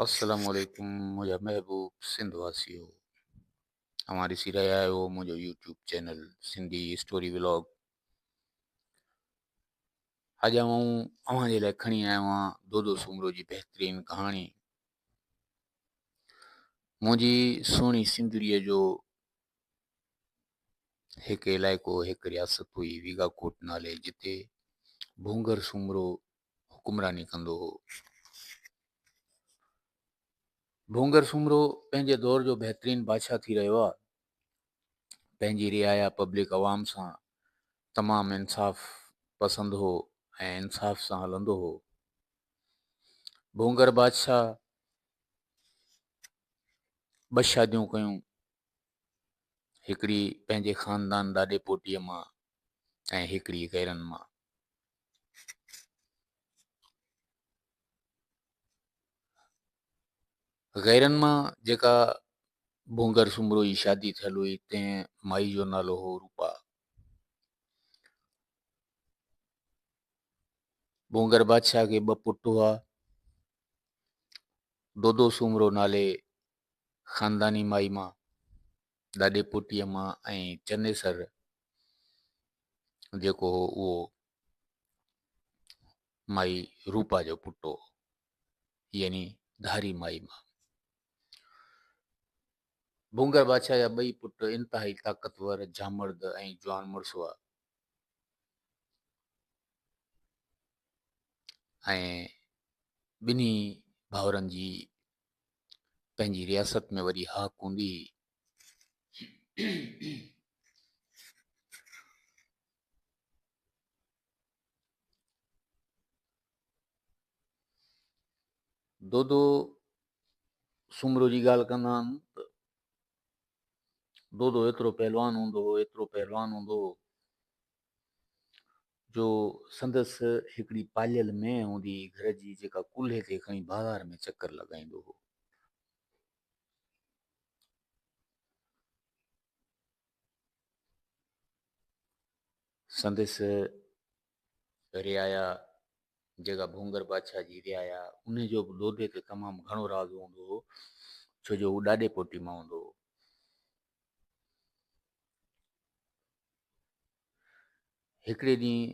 السلام عليڪم منهنجا محبوب سنڌ واسيو اوهان ڏسي رهيا آهيو منهنجو YouTube channel Sindhi story vlog اڄ آئون اوهان جي لاء کڻي آيو آهيان دودو سومرو جي بهترين ڪهاڻي منهنجي سهڻي سنڌريء جو هڪ علائقو هڪ رياست هئي ويگا ڪوٽ نالي جتي ڀونگر سومرو حڪمراني ڪندو هو. ڀونگر سومرو پنهنجي دور جو بهترين بادشاهه ٿي رهيو آ. پنهنجي رعايا پبلڪ عوام سان تمام انصاف پسند هو ۽ انصاف سان هلندو هو. ڀونگر بادشاهه ٻه شاديون ڪيون هڪڙي پنهنجي خاندان ڏاڏي پوٽيء مان ۽ هڪڙي غيرن مان. غيرن مان جيڪا ڀونگر سومرو جي شادي ٿيل هئي تنهن مائي جو نالو هو روپا ڀونگر بادشاهه کي ٻه پٽ هئا دودو سومرو نالي خانداني مائي مان ڏاڏي پوٽيء مان ۽ چنيسر جيڪو هو اهو مائي روپا جو پٽ هو يعني ڌاري مائي مان ڀونگر بادشاهه جا ٻئي پٽ انتهائي طاقتور جامرد ۽ جوان مڙس هئا ۽ ٻنهي ڀاورن جي پنهنجي رياست ۾ وري هاڪ هوندي هئي. دودو سومرو جي ڳالهه ڪندا آهن ته دودو ايترو پهلوان هوندو هو ايترو پهلوان هوندو هو جو سندس هڪڙي پاليل مينهن هوندي هئي گهر جي جيڪا ڪلهي تي کڻي بازار ۾ چڪر لڳائيندو هو. سندس رعايا جيڪا ڀونگر بادشاهه جي رعايا ان جو به لوڏي تي تمام گهڻو راز هوندو هو ڇو جو هو ڏاڏي پوٽي مان هوندو هو هڪڙي ڏينهن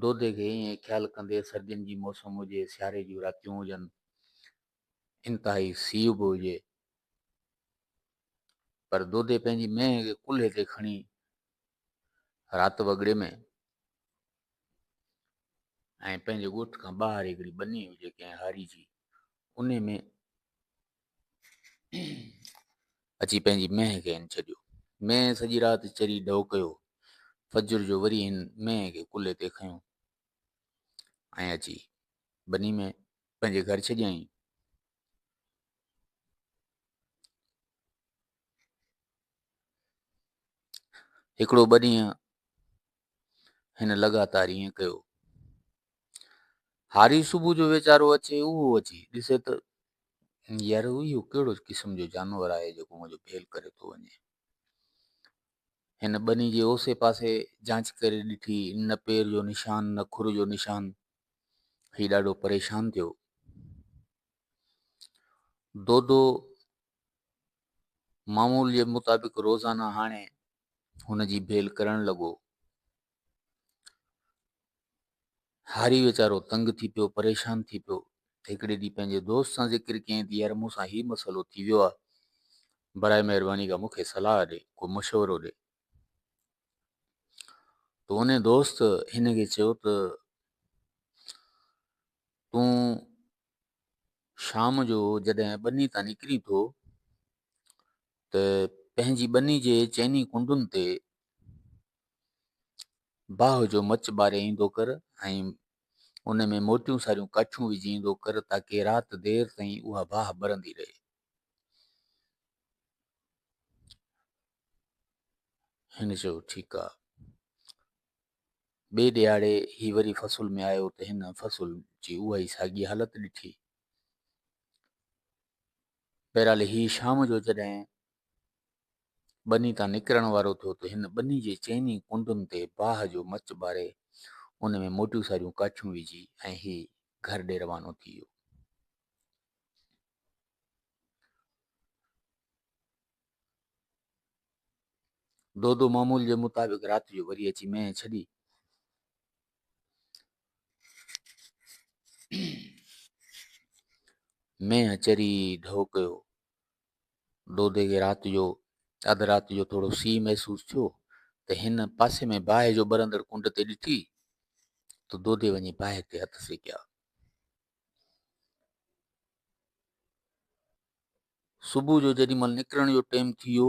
دودي کي ائين خيال ڪندي سردين جي موسم هجي، سياري جون راتيون هجن، انتهائي سيء به هجي، پر دودي پنهنجي مينهن کي ڪلهي تي کڻي رات وڳڙي ۾ ۽ پنهنجي ڳوٺ کان ٻاهر هڪڙي ٻني هجي ڪنهن هاري جي انهي ۾ اچي پنهنجي مينهن کي هن ڇڏيو مينهن سڄي رات چري ڍؤ ڪيو فجر جو وري هن مينهن کي ڪلهي تي کنيو ۽ اچي بني ۾ پنهنجي گهر ڇڏيائين هڪڙو ٻه ڏينهن هن لڳاتار ائين ڪيو. هاري صبح جو ويچارو اچي اهو اچي ڏسي ته يار اهو ڪهڙو قسم جو جانور آهي جيڪو منهنجو ڀيل ڪري ٿو وڃي هن ٻني جي اوسي پاسي جانچ ڪري ڏٺي نه پير جو نشان نه کر جو نشان هي ڏاڍو پريشان ٿيو دودو معمول جي مطابق روزانه هاڻي هن جي ڀيل ڪرڻ لڳو. هاري ويچارو تنگ ٿي پيو پريشان ٿي پيو هڪڙي ڏينهن پنهنجي دوست سان ذڪر ڪيائين ته يار مون سان هي مسئلو ٿي ويو آهي برائي مهرباني کان مون کي صلاح ڏي ڪو مشورو ڏي تو ان دوست هن کي چيو ته تون شام جو جڏهن ٻني تان نڪرين ٿو ته پنهنجي ٻني جي چئني ڪنڊن تي باهه جو مچ ٻاري ايندو ڪر ۽ ان ۾ موٽيون ساريون ڪاٺيون وجهي ايندو ڪر تاڪه رات دير تائين اها باهه ٻرندي رهي. هن چيو ٺيڪ آ. ٻئي ڏيهاڙي هي وري فصل ۾ آيو ته هن فصل جي اها ئي ساڳي حالت ڏٺي. بهرحال هي شام جو جڏهن ٻني تان نڪرڻ وارو ٿيو ته هن ٻني جي چئني ڪنڊن تي باهه جو مچ ٻاري ان ۾ موٽيون ساريون ڪاٺيون وجهي ۽ هي گهر ڏي روانو ٿي ويو. دودو معمول جي مطابق رات جو وري اچي مينهن ڇڏي. مينهن اچري ڍؤ ڪيو دودي کي رات جو اڌ رات جو ٿورو سي محسوس ٿيو ته هن پاسي ۾ باهه جو ٻرندڙ ڪنڊ تي ڏٺي ته دودي وڃي باهه تي هٿ سيڪيا صبح جو جڏهن مل نڪرڻ جو ٽيم ٿي ويو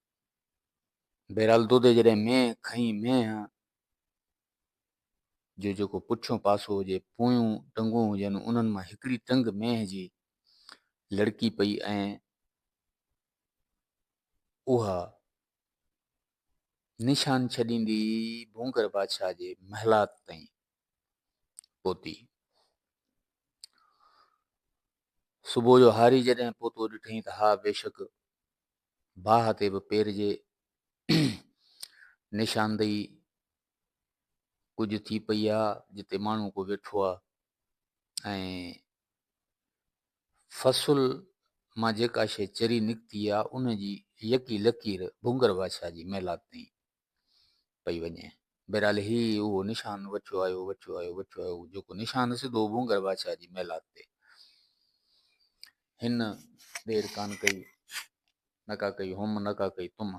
بهرحال دودي جڏهن مينهن کنئي مينهن جو جيڪو پٺيون پاسو هجي پويون ٽنگون هجن انهن مان هڪڙي ٽنگ مينهن جي لڙڪي پئي ۽ اها نشان ڇڏيندي ڀونگر بادشاهه جي محلات تائين پهتي صبح جو هاري جڏهن پوتو ڏٺئي ته ها بيشڪ باهه تي به پير جي نشاندهي ڪجهه ٿي پئي آ جتي ماڻهو ڪو ويٺو آ ۽ فصل مان جيڪا شيء چري نڪتي آ ان جي يڪي لڪير ڀونگر بادشاهه جي محلات تائين پئي وڃي. بهرحال هي اهو نشان وٺيو آيو، وٺيو آيو، وٺيو آيو، جيڪو نشان سڌو ڀونگر بادشاهه جي محلات تي. هن دير ڪانه ڪئي، نڪا ڪئي هم، نڪا ڪئي تم،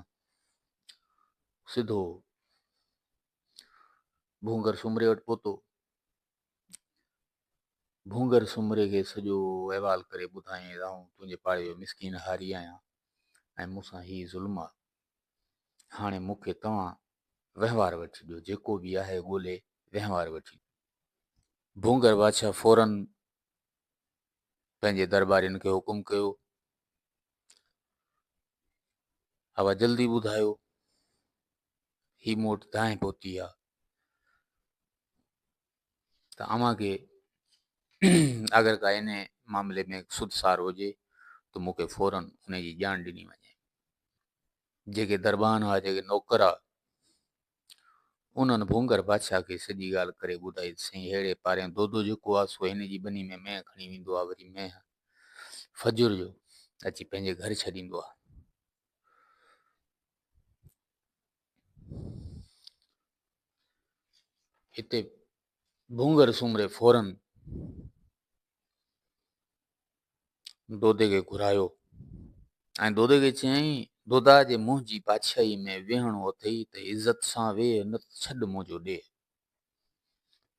سڌو ڀونگر سومري وٽ پهتو. ڀونگر سومري کي سڄو احوال ڪري ٻڌايائين، آئون تنهنجي پاڙي جو مسڪين هاري آهيان ۽ مون سان هي ظلم آ. هاڻي مون کي توهان وهنوار وٺي ڏيو جيڪو به آهي ڳولي وهنوار وٺي ڀونگر بادشاهه فورن پنهنجي دربارين کي حڪم ڪيو اوا جلدي ٻڌايو هي موٽ دانهن پهتي آ ته اوهان کي اگر ڪا ان معاملي ۾ سود سار هجي ته مون کي فوراً ان جي ڄاڻ ڏني وڃي جيڪي دربان هئا جيڪي نوڪر هئا انهن ڀونگر بادشاهه کي سڄي ڳالهه ڪري ٻڌائي سائين ههڙي پارين دودو جيڪو آهي سو هن جي ٻني ۾ مينهن کڻي ويندو آهي وري مينهن فجر جو اچي پنهنجي گهر ڇڏيندو آهي اتي ڀونگر سومري فورن دودي کي گهرايو ۽ دودي کي چيائين دودا جي منهنجي بادشاهي ۾ ويهڻو اٿئي ته عزت سان ويهه نه ته ڇڏ منهنجو ڏيهه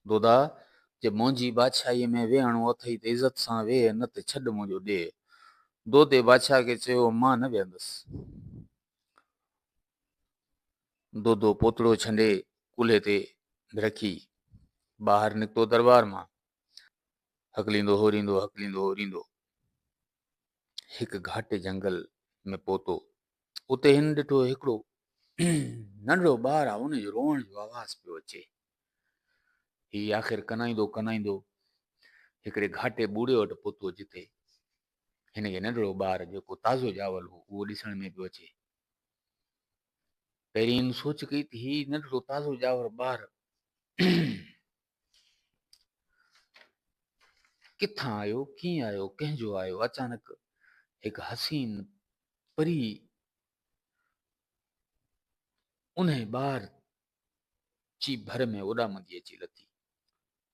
دودا جي منهنجي بادشاهي ۾ ويهڻو اٿئي ته عزت سان ويهه نه ته ڇڏ منهنجو ڏيهه دودي بادشاهه کي چيو مان نه ويهندس دودو پوتڙو ڇنڊي ڪلهي تي رکي ٻاهر نڪتو دربار مان. هڪليندو هوريندو هڪليندو هوريندو هڪ گهاٽي جنگل ۾ پهتو اتي هن ڏٺو هڪڙو ننڍڙو ٻار آهي ان جو روئڻ جو آواز پيو اچي هي آخر ڪنائيندو ڪنائيندو هڪڙي گهاٽي ٻوڙي وٽ پهتو جتي هن کي ننڍڙو ٻار جيڪو تازو ڄاول هو اهو ڏسڻ ۾ پيو اچي. پهرين هن سوچ ڪئي ته هي ننڍڙو تازو ڄاور ٻار ڪٿان آيو ڪيئن آيو ڪنهن جو آيو اچانڪ هڪ حسين پري انهي ٻار چي ڀر ۾ اڏامندي اچي لٿي.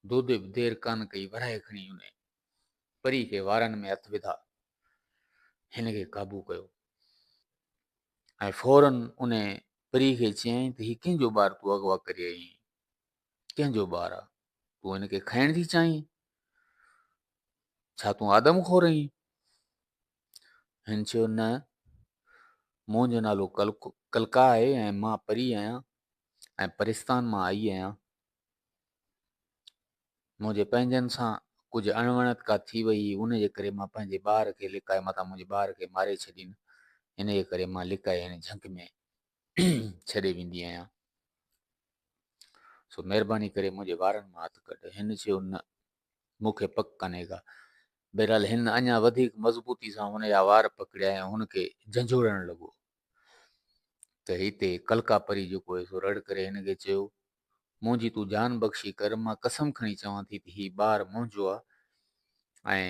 دودي به دير ڪانه ڪئي ورهائي کڻي ان پري کي وارن ۾ هٿ وڌا هن کي قابو ڪيو ۽ فورن ان پري کي چيائين ته هي ڪنهن جو ٻار تون اغوا ڪري آئي آهين ڪنهن جو ٻار آ تون هن کي کائڻ ٿي چاهين ڇا تون آدم خور آهين هن چيو، نه، منهنجو نالو ڪلڪا آهي ۽ مان پري آهيان ۽ پرستان مان آئي آهيان. منهنجي پنهنجن سان ڪجهه اڻوڻت ڪا ٿي وئي هئي، ان جي ڪري مان پنهنجي ٻار کي لڪائي متان منهنجي ٻار کي ماري ڇڏين، ان جي ڪري مان لڪائي هن جهنگ ۾ ڇڏي ويندي آهيان. سو مهرباني ڪري منهنجي وارن مان هٿ ڪڍ. هن چيو، نه، مون کي پڪ ڪانهي ڪا. بهرحال هن اڃا وڌيڪ مضبوطي سان هن جا وار پڪڙيا ۽ هن کي جهنجهوڙڻ لڳو ته هتي ڪلڪا پري جيڪو هيو سو رڙ ڪري هن کي چيو، منهنجي تون جان بخشي ڪر، مان قسم کڻي چوان ٿي ته هي ٻار منهنجو آ ۽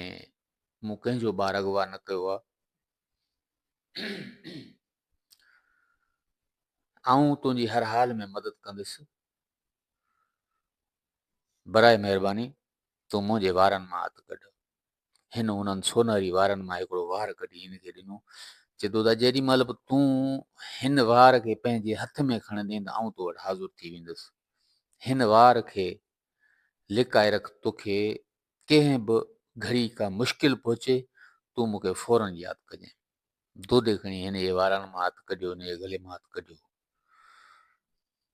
مون ڪنهن جو ٻار اغوا نه ڪيو آ. آئون تنهنجي هر حال ۾ مدد ڪندس. برائي مهرباني تون منهنجي وارن مان هٿ ڪڍ. هن انهن سونهري وارن مان هڪڙو وار ڪڍي هن کي ڏنو. چي ٿو ته جيڏي مهل به تون هن وار کي پنهنجي هٿ ۾ کڻندين ته آئون تو وٽ حاضر ٿي ويندس. هن وار کي لڪائي رک توکي ڪنهن به گهڙي ڪا مشڪل پهچي تون مون کي فورن ياد ڪجين. دودي کڻي هن جي وارن مان هٿ ڪڍيو هن جي گلي مان هٿ ڪڍيو.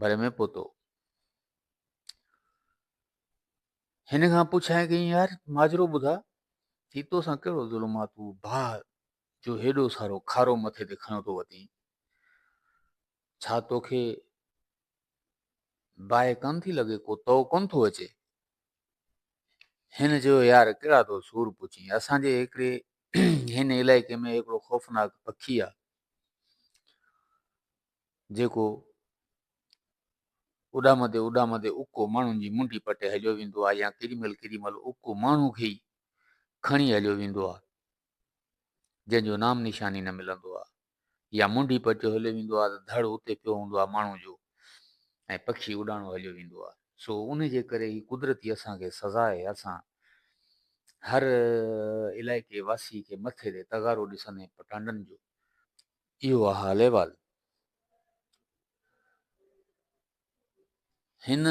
ڀري ۾ پهتو. هن کان پڇايائين ڪيائين يار ماجرو ٻڌا هي تو سان ڪهڙو ظلم آ تو باهه جو هيڏو سارو کارو مٿي تي کڻيو ٿو وتين ڇا توکي باهه ڪن ٿي لڳي ڪو تو ڪون ٿو اچي هن چيو يار ڪهڙا تو سور پڇين اسان جي هڪڙي هن علائقي ۾ هڪڙو خوفناڪ پکي آ جيڪو اڏامندي اڏامندي اڪو ماڻهن جي منڊي پٽي هليو ويندو آهي يا ڪيڏي مهل ڪيڏي مهل اڪو ماڻهو کي ئي کڻي هليو ويندو آهي جنهن جو نام نشاني نه ملندو آهي يا منڊي پٽيو هليو ويندو آهي ته ڌڙ اتي پيو هوندو آهي ماڻهو جو ۽ پکي اڏاڻو هليو ويندو آهي سو ان جي ڪري هي قدرتي اسان کي سزا آهي اسان هر علائقي واسي کي مٿي تي تغارو ڏسندي پٽانڊن جو اهو آهي حال احوال. هن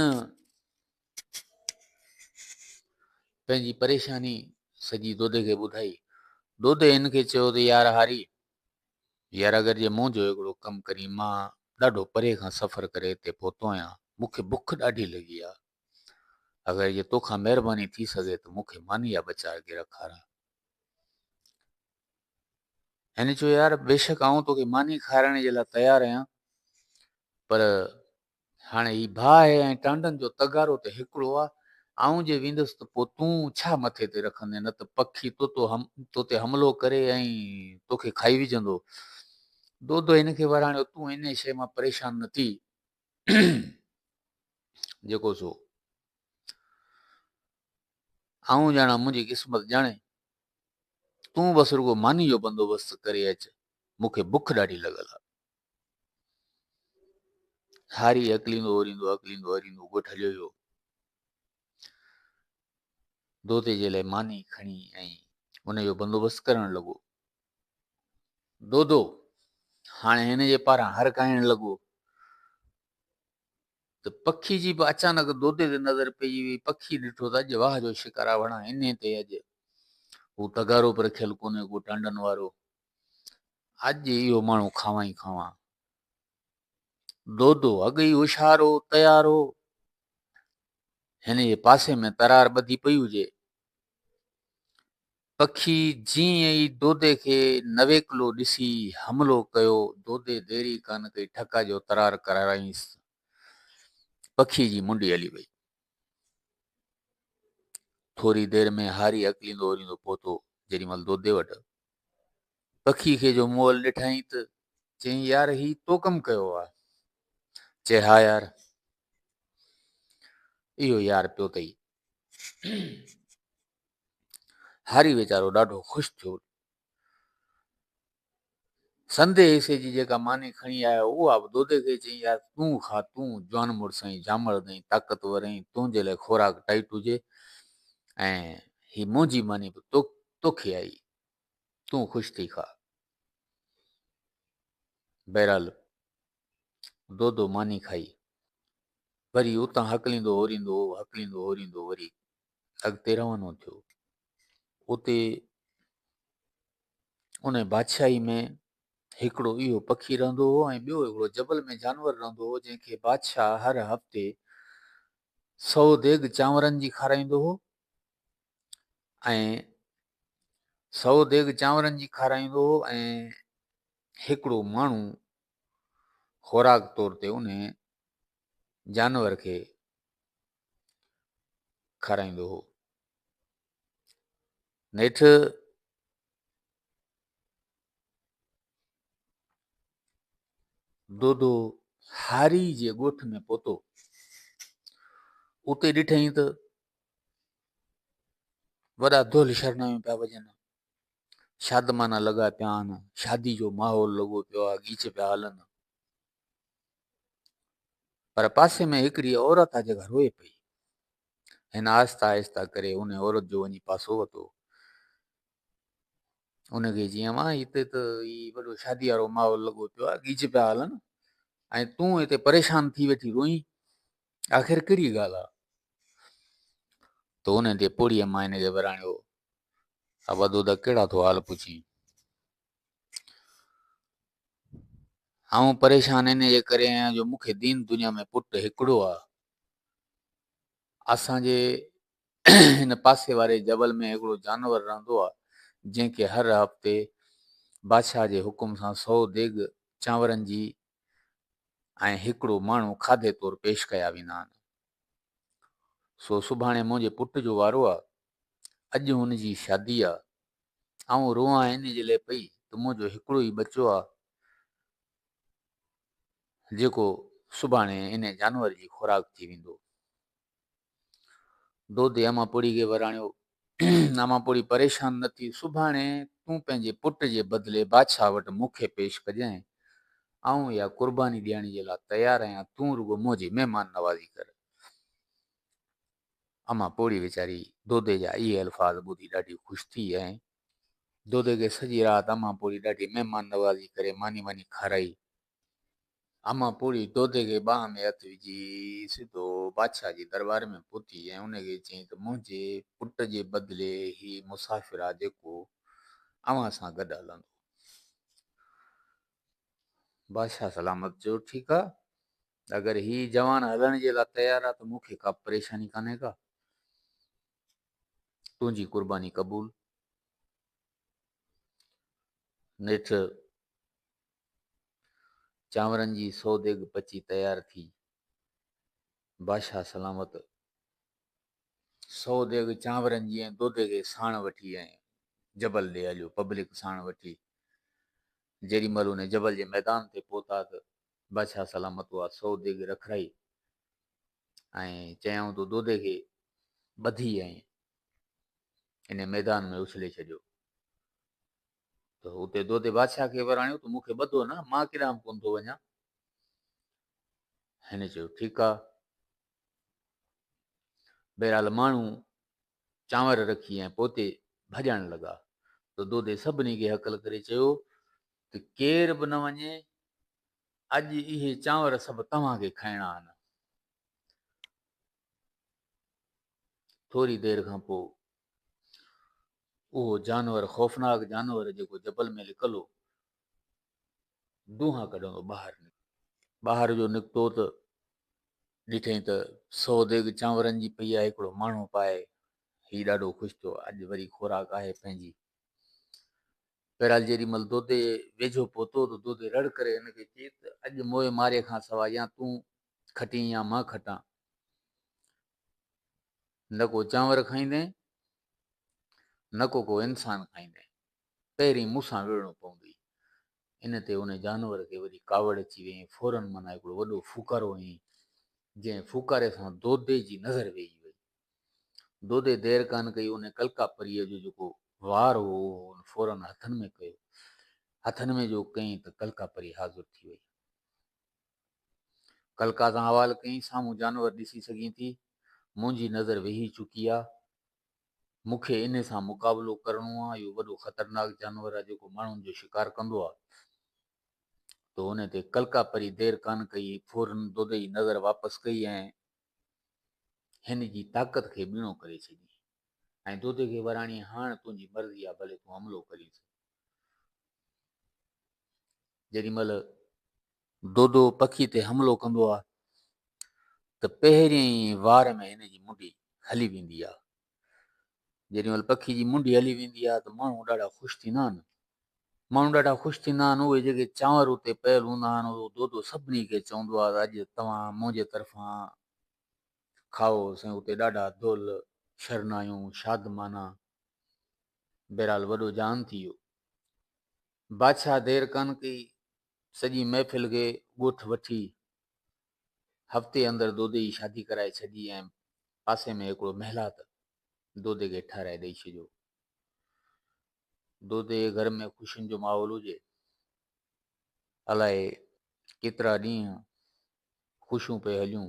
پنهنجي پريشاني سڄي دودي کي ٻڌائي. دودي هن کي چيو ته يار هاري يار اگر جي مون جو هڪڙو ڪم ڪرين مان ڏاڍو پري کان سفر ڪري هتي پهتو آهيان مون کي بک ڏاڍي لڳي آهي اگر جي توکان مهرباني ٿي سگهي ته مون کي ماني جا ٻه چار گر کارا. هن چيو، يار بيشڪ آئون توکي ماني کارائڻ جي لاء تيار آهيان، پر هاڻي هي باهه ۽ ٽانڊن جو تغارو ته هڪڙو آهي، آئون جي ويندس ته پوء تون ڇا مٿي تي رکندين، نه ته پکي تو تي حملو ڪري ۽ توکي کائي وجهندو. دودو هن کي وراڻيو، تون انهيء شيء مان پريشان نه ٿي، جيڪو سو آئون ڄاڻان، منهنجي قسمت ڄاڻي، تون بس رڳو ماني جو بندوبست ڪري اچ، مون کي بک ڏاڍي لڳل آ. هاري اڪليندو اوريندو اڪليندو اوريندو ڳوٺ هليو ويو. دوتي جي لاء ماني کڻي ۽ ان جو بندوبست ڪرڻ لڳو. دودو هاڻي هن جي پاران هرکائڻ لڳو. ته پکي جي به اچانڪ دودي تي نظر پئجي وئي. پکي ڏٺو ته اڄ واهه جو شڪار آهي، وڙهان انهي تي اڄ هو تغارو به رکيل ڪونهي ڪو ٽانڊن وارو. اڄ اهو ماڻهو کانوان ئي کانوان. دودو اڳ ئي هوشيار هو، تيار هو. هن جي پاسي ۾ ترار ٻڌي پئي هجي. پکي جيئن ئي دودي کي نويڪلو ڏسي حملو ڪيو، دودي دير ئي ڪانه ڪئي، ٺڪا جو ترار ڪرارائينس. پکي جي منڊي هلي وئي. ٿوري دير ۾ هاري اڪليندو اوريندو پهتو، جيڏي مهل دودي وٽ پکي کي جو مول ڏٺائين ته چيائين يار هي تو ڪم ڪيو آ؟ چي ها يار اهو يار پيو تئي. هاري ويچارو ڏاڍو خوش ٿيو. سندي حصي جي جيڪا ماني کڻي آيو اها به دودي کي چيائين، يار تون کا، تون جوان مڙس ۽ جامڙد ۽ طاقتور آهين، تنهنجي لاء خوراڪ ٽائيٽ هجي ۽ هي منهنجي ماني به توکي آئي، تون خوش ٿي کا. بهرحال دودو ماني کائي وري اتان هڪليندو هوريندو هو، هڪليندو هوريندو وري اڳتي روانو ٿيو. اتي ان بادشاهي ۾ هڪڙو اهو پکي رهندو هو ۽ ٻيو هڪڙو جبل ۾ جانور رهندو هو جنهن کي بادشاهه هر هفتي سو ديگ چانورن جي کارائيندو هو ۽ سو ديگ چانورن جي کارائيندو هو ۽ هڪڙو ماڻهو خوراڪ طور تي ان جانور کي کارائيندو هو نيٺ دودو هاري جي ڳوٺ ۾ پهتو اتي ڏٺائين ته وڏا دول شرنايون پيا وڄن شادمانا لڳا پيا آهن شادي جو ماحول لڳو پيو آهي گيچ پيا هلن پر پاسي ۾ هڪڙي عورت آ جيڪا روئي پئي. هن آهسته آهسته ڪري ان عورت جو وڃي پاسو وتو. ان کي جي اما هتي ته هي وڏو شادي وارو ماحول لڳو پيو آ گيج پيا هلن ۽ تون هتي پريشان ٿي ويٺي روئين آخر ڪهڙي ڳالهه آ ته ان تي پوڙهي اما هن کي وراڻيو آ بدو دا ڪهڙا ٿو حال پڇين آئون پريشان ان جي ڪري آهيان جو مون کي دين دنيا ۾ پٽ هڪڙو آهي اسان جي هن پاسي واري جبل ۾ هڪڙو جانور رهندو آهي جنهن کي هر هفتي بادشاهه جي حڪم سان سو ديگ چانورن جي ۽ هڪڙو ماڻهو کاڌي طور پيش ڪيا ويندا آهن سو سڀاڻي منهنجي پٽ جو وارو آهي اڄ هن جي شادي آهي آئون روئان ان جي لاء پئي ته منهنجو هڪڙو ئي ٻچو آ جيڪو سڀاڻي ان جانور جي خوراڪ ٿي ويندو. دودي اماپوڙهي کي وراڻيو، اماپوڙهي پريشان نه ٿي، سڀاڻي تون پنهنجي پٽ جي بدلي بادشاهه وٽ مون کي پيش ڪجانء، آئون اها قرباني ڏيڻ جي لاء تيار آهيان، تون رڳو منهنجي مهمان نوازي ڪر. امان پوڙهي ويچاري دودي جا اهي الفاظ ٻڌي ڏاڍي خوش ٿي ۽ دودي کي سڄي رات امان پوڙهي ڏاڍي مهمان نوازي ڪري ماني واني کارائي. امان پوڙهي دودي کي ٻانهن ۾ هٿ وجهي سڌو بادشاهه جي درٻار ۾ پهتي ۽ ان کي چيائين ته منهنجي پٽ جي بدلي هي مسافر آ جيڪو اوهان سان گڏ هلندو. بادشاهه سلامت چيو ٺيڪ آ اگر هي جوان هلڻ جي لا تيار آ ته مون کي ڪا پريشاني ڪانهي ڪا. تنهنجي قرباني قبول. نيٺ چانورن جي سو ديگ پچي تيار ٿي. بادشاهه سلامت سو ديگ چانورن جي ۽ دودي کي ساڻ وٺي ۽ جبل ڏي هليو پبلڪ ساڻ وٺي جيڏي مهل ان جبل جي ميدان تي پهتا ته بادشاهه سلامت هئا سو ديڳ رکرائي ۽ چيائون تو دودي کي ٻڌي ۽ ان ميدان ۾ اڇلي ڇڏيو ته اتي دودي بادشاهه کي وراڻيو ته مون کي ٻڌو نه مان ڪيڏانهن به ڪونه ٿو وڃان هن چيو ٺيڪ آ بهرحال ماڻهو چانور رکي ۽ پوتي ڀڄڻ لڳا ته دودي سڀني کي هڪل ڪري چيو ته ڪير به نه وڃي، اڄ اهي چانور سڀ توهان کي کائڻا آهن. ٿوري دير کان پوء اهو جانور، خوفناڪ جانور جيڪو جبل ۾ لڪل هو، دونهان ڪڍندو ٻاهر نڪتو. ٻاهر جو نڪتو ته ڏٺئي ته سو ديڳ چانورن جي پئي آهي، هڪڙو ماڻهو پائي. هي ڏاڍو خوش ٿيو، اڄ وري خوراڪ آهي پنهنجي. بهرحال جيڏي مهل دودي ويجهو پهتو ته دودي رڙ ڪري هن کي چيس ته اڄ موئي مارئي کان سواء يا تون کٽين يا مان کٽان نه ڪو چانور کائيندين نه ڪو ڪو انسان کائيندين پهرين مون سان وڙهڻو پوندي ان تي ان جانور کي وڏي ڪاوڙ اچي وئي ۽ فورن منا هڪڙو وڏو ڦوڪارو هنئي جنهن ڦوڪاري سان دودي جي نظر ويهي وئي دودي دير ڪانه ڪئي ان ڪلڪا پريء جو جيڪو وار هو اهو هن فورن هٿن ۾ ڪيو. هٿن ۾ جو ڪيائين ته ڪلڪا پري حاضر ٿي وئي. ڪلڪا سان حوال ڪيائين سامهون جانور ڏسي سگهين ٿي، منهنجي نظر ويهي چڪي آ، مون کي انهي سان مقابلو ڪرڻو آ، اهو وڏو خطرناڪ جانور آ جيڪو ماڻهن جو شڪار ڪندو آ. تو انهي تي ڪلڪا پري دير ڪانه ڪئي فورن دودي جي نظر واپس ڪئي ۽ هن جي طاقت کي ٻيڻو ڪري ڇڏين ۽ دودي کي وراڻين، هاڻ تنهنجي مرضي آ، ڀلي تون حملو ڪرين ٿو. جيڏي مهل دودو پکي تي حملو ڪندو آ ته پهرين ئي وار ۾ هن جي منڊي هلي ويندي آ. جيڏي مھل پکي جي منڍي ھلي ويندي آھي ته ماڻھو ڏاڍا خوش ٿيندا آھن. ماڻھو ڏاڍا خوش ٿيندا آھن. اھي جيڪي چانور اتي پيل ھوندا آھن اھو دودو سڀني کي چوندو آھي ته اڄ توھان منھنجي طرفان کائو سائين اتي ڏاڍا دل شرنايون شادمانا. بھرحال وڏو جان ٿي ويو. بادشاھ دير ڪانه ڪئي سڄي محفل کي ڳوٺ وٺي هفتي اندر دودي جي شادي ڪرائي ڇڏي ۽ پاسي ۾ هڪڙو محلات دودي کي ٺهرائي ڏئي ڇڏيو. دودي جي گهر ۾ خوشين جو ماحول هجي. الائي ڪيترا ڏينهن خوشيون پئي هليون.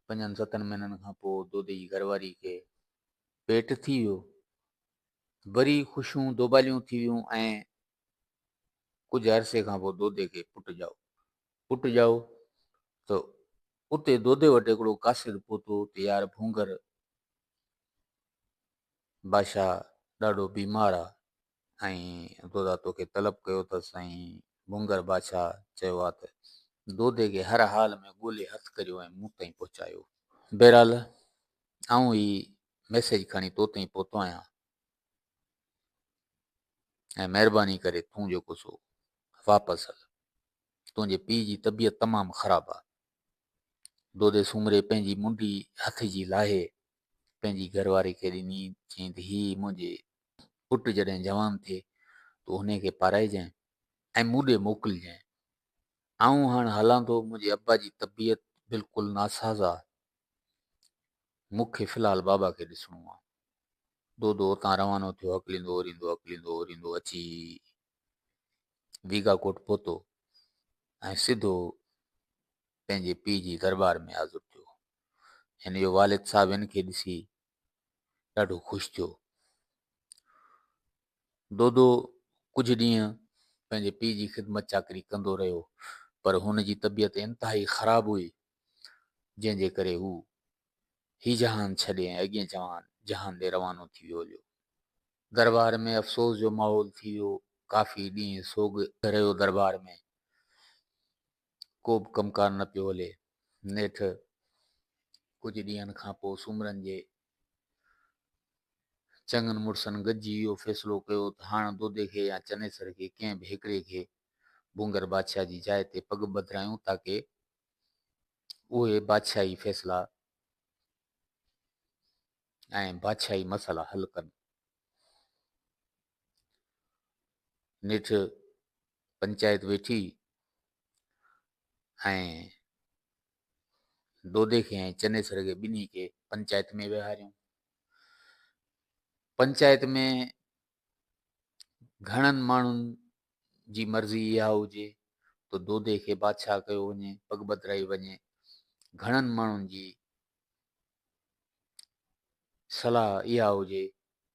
پنجن ستن مهينن کان پوء دودي جي گهر واري کي پيٽ ٿي ويو. وري خوشيون دوباليون ٿي ويون ۽ ڪجهه عرصي کان پوء دودي کي پٽ ڄائو. پٽ ڄائو ته اتي دودي وٽ هڪڙو قاصد پهتو ته يار ڀونگر بادشاهه ڏاڍو بيمار آ ۽ دودا توکي طلب ڪيو اٿس ۽ ڀونگر بادشاهه چيو آ ته دودي کي هر حال ۾ ڳولي هٿ ڪريو ۽ مون تائين پهچايو. بهرحال آئون هي ميسيج کڻي تو تائين پهتو آهيان ۽ مهرباني ڪري تون جيڪو سو واپس هل. تنهنجي پيء جي طبيعت تمام خراب آ. دودي سومري پنهنجي منڊي هٿ جي لاهي پنهنجي گهر واري کي ڏني چيائين ته هي منهنجي پٽ جڏهن جوان ٿئي تو هن کي پارائجانء ۽ مون ڏي موڪلجانء. آئون هاڻ هلان ٿو منهنجي ابا جي طبيعت بلڪل ناساز آ. مون کي في الحال بابا کي ڏسڻو آ. دودو اتان روانو ٿيو هڪليندو اوريندو هڪليندو اوريندو اچي ديگا ڪوٽ پهتو ۽ سڌو پنهنجي پي جي دربار ۾ حاضر ٿيو هن جو والد صاحب هن کي ڏسي ڏاڍو خوش ٿيو دودو ڪجهه ڏينهن پنهنجي پي جي خدمت چاڪري ڪندو رهيو پر هن جي طبيعت انتهائي خراب هئي جنهن جي ڪري هو هي جهان ڇڏي ۽ اڳئين جوان جهان ڏي روانو ٿي ويو هليو. درٻار ۾ افسوس جو ماحول ٿي ويو. ڪافي ڏينهن سوڳ رهيو درٻار ۾ ڪوبه ڪم ڪار نه پيو هلي. نيٺ ڪجهه ڏينهن کان پوء سومرن جي چڱن مڙسن گڏجي اهو فيصلو ڪيو ته هاڻ دودي کي يا چنيسر کي ڪنهن به هڪڙي کي ڀونگر بادشاهه جي جاء تي پڳ ٻڌرايون تاڪه اهي بادشاهي فيصلا ۽ بادشاهي مسئلا حل ڪن. نيٺ پنچائت ويٺي ۽ دودي کي ۽ چنيسر کي ٻنهي کي پنچائت ۾ ويهاريون. پنچائت ۾ گهڻن ماڻهن جي مرضي اها هجي ته دودي کي بادشاهه ڪيو وڃي، پڳ ٻڌرائي وڃي، گهڻن ماڻهن جي صلاح اها هجي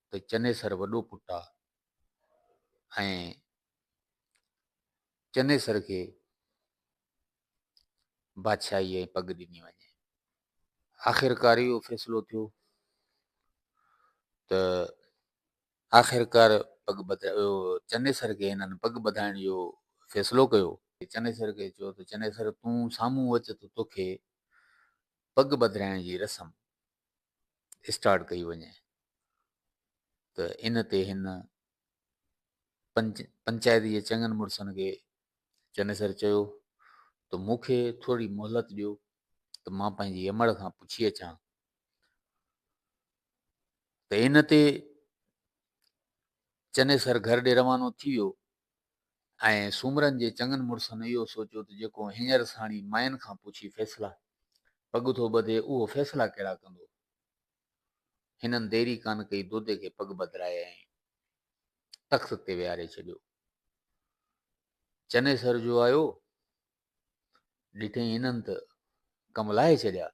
ته چنيسر وڏو پٽ آ ۽ چنيسر کي بادشاهي ۽ پڳ ڏني وڃي. آخرڪار اهو فيصلو ٿيو ته آخرڪار پڳ ٻڌايو ويو. چنيسر کي هنن پڳ ٻڌائڻ جو فيصلو ڪيو. چنيسر کي چيو ته چنيسر تون سامهون اچ ته توکي پڳ ٻڌرائڻ جي رسم اسٽارٽ ڪئي وڃي ته ان تي هن پنچائت جي چڱن مڙسن کي چنيسر چيو ته مون کي ٿورڙي مهلت ڏيو ته مان پنهنجي امڙ کان پڇي اچان ته ان تي چنيسر گهر ڏي روانو ٿي ويو ۽ سومرن جي چڱن مڙسن اهو سوچيو ته جيڪو هينئر ساڻي مائن کان پڇي فيصلا پڳ ٿو ٻڌي اهو فيصلا ڪهڙا ڪندو هنن ديري ڪانه ڪئي دودي کي پڳ ٻڌرائي ۽ تخت تي ويهاري ڇڏيو چنيسر جو آيو، ڏٺئي هنن ته ڪم لاهي ڇڏيا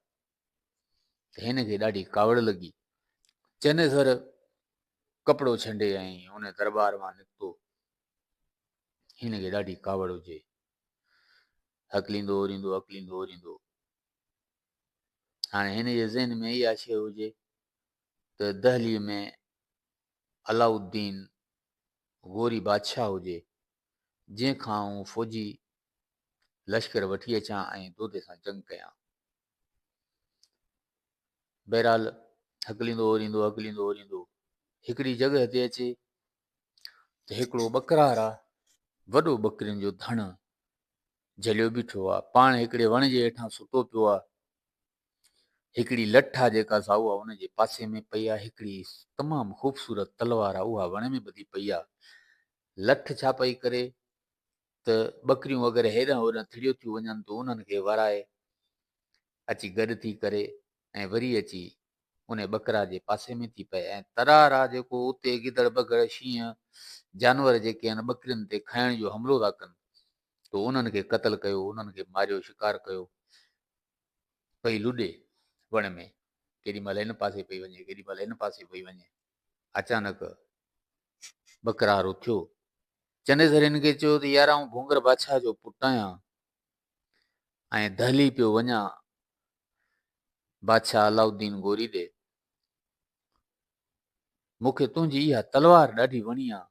ته هن کي ڏاڍي ڪاوڙ لڳي. چنيسر ڪپڙو ڇنڊي ۽ ان درٻار مان نڪتو. هن کي ڏاڍي ڪاوڙ هجي. هڪليندو اوريندو هڪليندو اوريندو. هاڻي هن جي ذهن ۾ اها شيء هجي ته دهليء ۾ علاء الدين غوري بادشاهه هجي، جنهن کان آئون فوجي لشڪر وٺي اچان ۽ دودي سان جنگ ڪيان. بهرحال هڪليندو اوريندو هڪليندو اوريندو هڪڙي جڳهه تي اچي ته هڪڙو ٻڪرار آ وڏو ٻڪرين جو ڌڻ جهليو بيٺو آ پاڻ هڪڙي وڻ جي هيٺان ستو پيو آ هڪڙي لٺ آ جيڪا سائو آ ان جي پاسي ۾ پئي آ هڪڙي تمام خوبصورت تلوار آ اها وڻ ۾ ٻڌي پئي آ لٺ ڇا پئي ڪري ته ٻڪريون وغيره هيڏانهن هوڏانهن ٿڙيو ٿيون وڃن تون انهن کي ورائي اچي گڏ ٿي ڪري ۽ وري اچي ان ٻڪرا جي پاسي ۾ ٿي پئي ۽ ترار آ جيڪو اتي گدڙ بگهڙ شينهن جانور جيڪي آهن ٻڪرين تي کائڻ جو حملو ٿا ڪن تو انهن کي قتل ڪيو انهن کي ماريو شڪار ڪيو پئي لڏي وڻ ۾، ڪيڏي مهل هن پاسي پئي وڃي، ڪيڏي مهل هن پاسي پئي وڃي. اچانڪ ٻڪرار اٿيو. چنيسر هن کي چيو ته يار آئون ڀونگر بادشاهه جو پٽ آهيان ۽ دهلي پيو وڃان بادشاهه علاؤالدين گوري ڏي. مون کي تنهنجي اها تلوار ڏاڍي وڻي آ.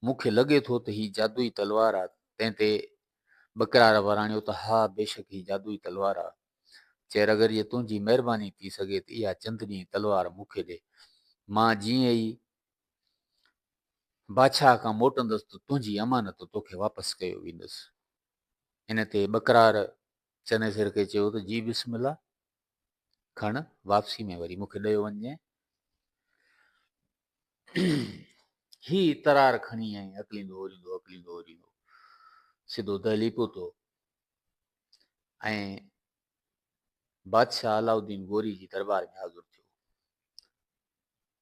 مون کي لڳي ٿو ته هي جادوئي تلوار آ. تنهن تي ٻڪرار وراڻيو ته ها، بيشڪ هي جادوئي تلوار آ. چير اگر جي تنهنجي مهرباني ٿي سگهي ته اها چندني تلوار مون کي ڏي. مان جيئن ئي بادشاهه کان موٽندس ته تنهنجي امانت توکي واپس ڪيو ويندس. ان تي ٻڪرار چنيسر کي چيو ته جي بسم الله، کڻ واپسي ۾ وري مون کي ڏيو وڃجئين. هي ترار کڻي ائين اڪليندو اوريندو اڪليندو اوريندو سڌو دهلي پهتو ۽ بادشاهه علاؤ الدين غوري جي دربار ۾ حاضر ٿيو.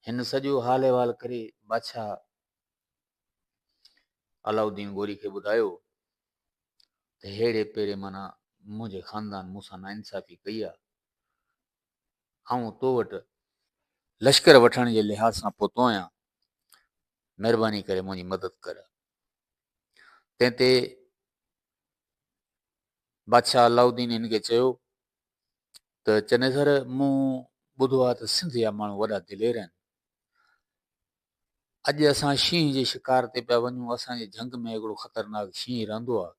هن سڄو حال احوال ڪري بادشاهه علاؤ الدين غوري کي ٻڌايو ته ههڙي پيري معنيٰ منهنجي خاندان مون سان ناانصافي ڪئي آهي. آئون تو وٽ لشڪر وٺڻ جي لحاظ سان پهتو آهيان، مهرباني ڪري منهنجي مدد ڪر. تنهن تي بادشاهه علاؤ الدين هن کي چيو ته چنيسر مون ٻڌو آهي ته سنڌ جا ماڻهو وڏا دلير آهن اڄ اسان شينهن جي شڪار تي پيا وڃون، اسان جي جهنگ ۾ هڪڙو خطرناڪ شينهن رهندو آهي،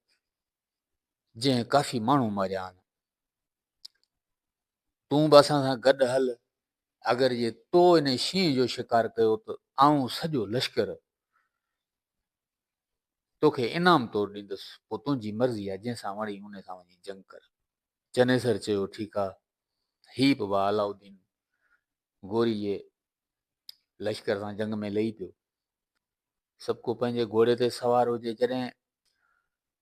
جنهن ڪافي ماڻهو ماريا آهن. تون به اسان سان گڏ هل، اگر جي تو ان شينهن جو شڪار ڪيو ته آئون سڄو لشڪر توکي انعام طور ڏيندس، پوء تنهنجي مرضي آهي، جنهن سان وڻي ان سان وڃي جنگ ڪر. چنيسر چيو، ٺيڪ آهي. هي به با علاؤالدين غوري جي لشڪر سان جنگ ۾ لهي پيو سڀڪو پنهنجي گهوڙي تي سوار هجي جڏهن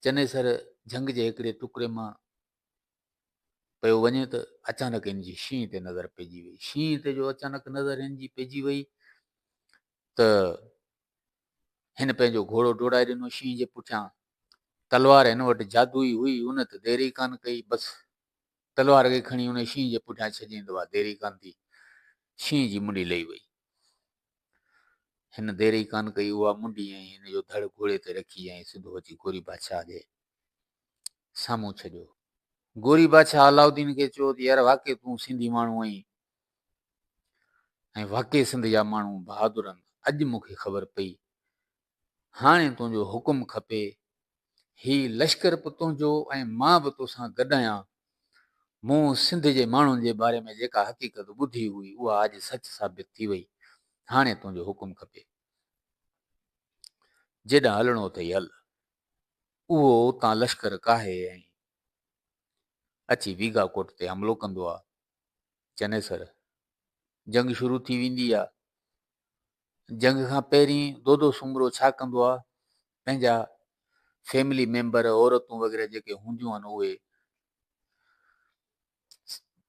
چنيسر جهنگ جي هڪڙي ٽڪري مان پيو وڃي ته اچانڪ ان جي شينهن تي نظر پئجي وئي شينهن تي جو اچانڪ نظر ان جي پئجي وئي ته هن پنهنجو گهوڙو ڊوڙائي ڏنو شينهن جي پٺيان تلوار هن وٽ جادوئي هئي ان ته ديري ڪان ڪئي بس تلوار کي کڻي ان شينهن جي پٺيان ڇڄين ته اها دير ئي ڪانه ٿي. شينهن جي منڍي لهي وئي. هن دير ئي ڪانه ڪئي، اها منڍي ۽ هن جو ڌڙ گهوڙي تي رکي ۽ سڌو اچي گوري بادشاهه جي سامهون ڇڏيو. گوري بادشاهه علاؤالدين کي چيو ته يار واقعي تون سنڌي ماڻهو آهين ۽ واقعي سنڌ جا ماڻهو بهادر آهن. اڄ مون کي خبر پئي هاڻي تنهنجو حڪم کپي. هي لشڪر به تنهنجو ۽ مان به توسان گڏ آهيان. مون سنڌ جي ماڻهن جي باري ۾ جيڪا حقيقت ٻڌي هئي، اها اڄ سچ ثابت ٿي وئي. هاڻي تنهنجو حڪم کپي. جيڏانهن هلڻو اٿئي هل. اهو اتان لشڪر ڪاهي ۽ اچي ويگا ڪوٽ تي حملو ڪندو آ. چنيسر، جنگ شروع ٿي ويندي آ. جنگ کان پهرين دودو سومرو ڇا ڪندو آ پنهنجا فيملي ميمبر عورتون وغيره جيڪي هونديون آهن اهي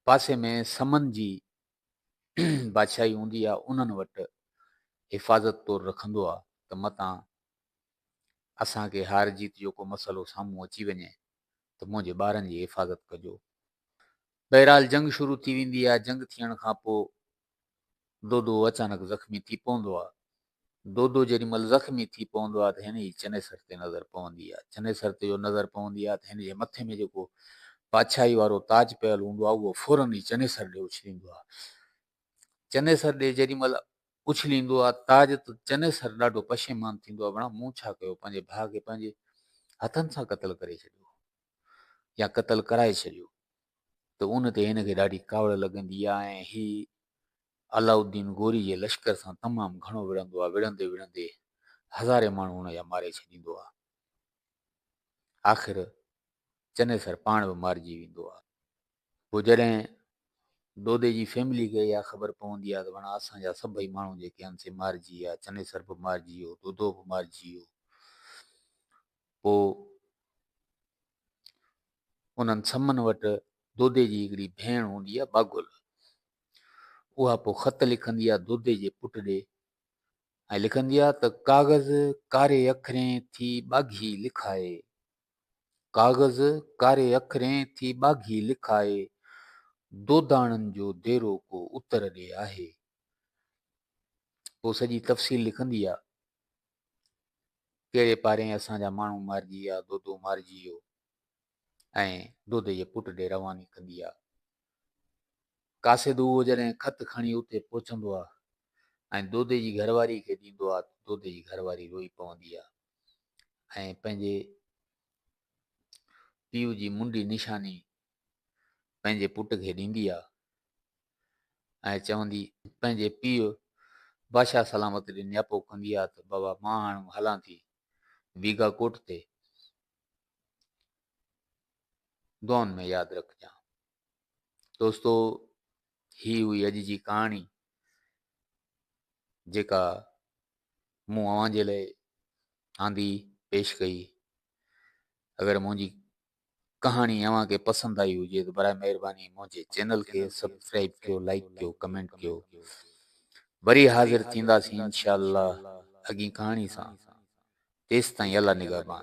پاسي ۾ سمن جي بادشاهي هوندي آ انهن وٽ حفاظت طور رکندو آ ته متان اسان کي هار جيت جو ڪو مسئلو سامهون اچي وڃي ته منهنجي ٻارن جي حفاظت ڪجو بهرحال جنگ شروع ٿي ويندي آ جنگ ٿيڻ کان پوء دودو اچانڪ زخمي ٿي پوندو آ. دودو جيڏي مھل زخمي ٿي پوندو آ ته ھن جي چنيسر تي نظر پوندي آ. چنيسر تي جو نظر پوندي آ ته ھن جي مٿي ۾ جيڪو پاڇائي وارو تاج پيل ھوندو آ اھو فورن ئي چنيسر ڏي اڇليندو آ. چنيسر ڏي جيڏي مھل اڇليندو آ تاج ته چنيسر ڏاڍو پشيمان ٿيندو آ بڻا مون ڇا ڪيو پنھنجي ڀاء کي پنھنجي ھٿن سان قتل ڪري ڇڏيو يا قتل ڪرائي ڇڏيو. ته ان تي هن کي ڏاڍي ڪاوڙ لڳندي آهي ۽ هي علاؤالدين غوري جي لشڪر سان تمام گهڻو وڙهندو آهي، وڙهندي وڙهندي هزارين ماڻهو هن جا ماري ڇڏيندو آهي. آخر چنيسر پاڻ به مارجي ويندو آهي. پوء جڏهن دودي جي فيملي کي اها خبر پوندي آهي ته وڻا اسان جا سڀئي ماڻهو جيڪي آهن سي مارجي ويا، چنيسر به مارجي ويو، دودو به مارجي ويو. پوء انهن سمن وٽ دودي جي هڪڙي ڀيڻ هوندي آهي باگل. اها پوء خط لکندي آهي دودي جي پٽ ڏي ۽ لکندي آهي ته ڪاغذ ڪاري اکرين ٿي ٻاگهي لکائي ڪاغذ ڪاري اکرين ٿي ٻاگهي لکائي دوداڻن جو ديرو ڪو اتر ڏي آهي. پوء سڄي تفصيل لکندي آهي ڪهڙي پارين اسان جا ماڻهو مارجي ويا، دودو مارجي ويو ۽ دودي جي پٽ ڏي رواني ڪندي آ. قاصد اهو جڏهن خط کڻي اتي پهچندو آ ۽ دودي جي گهرواري کي ڏيندو آ ته دودي جي گهرواري روئي پوندي آ ۽ پنهنجي پيء جي منڊي نشاني پنهنجي پٽ کي ڏيندي آ ۽ چوندي پنهنجي پيء بادشاهه سلامت ڏي نياپو ڪندي آ ته بابا مان هاڻ هلان ٿي ويگا ڪوٽ تي دعائن ۾ ياد رکجان دوستو هي هئي اڄ جي ڪهاڻي جيڪا مون اوهان جي لاء آندي پيش ڪئي اگر منهنجي ڪهاڻي اوهان کي پسند آئي هجي ته برائي مهرباني منهنجي چينل کي سبسڪرائيب ڪيو لائيڪ ڪيو ڪمينٽ ڪيو وري حاضر ٿينداسين انشاء الله اڳين ڪهاڻي سان تيستائين الله نگهبان.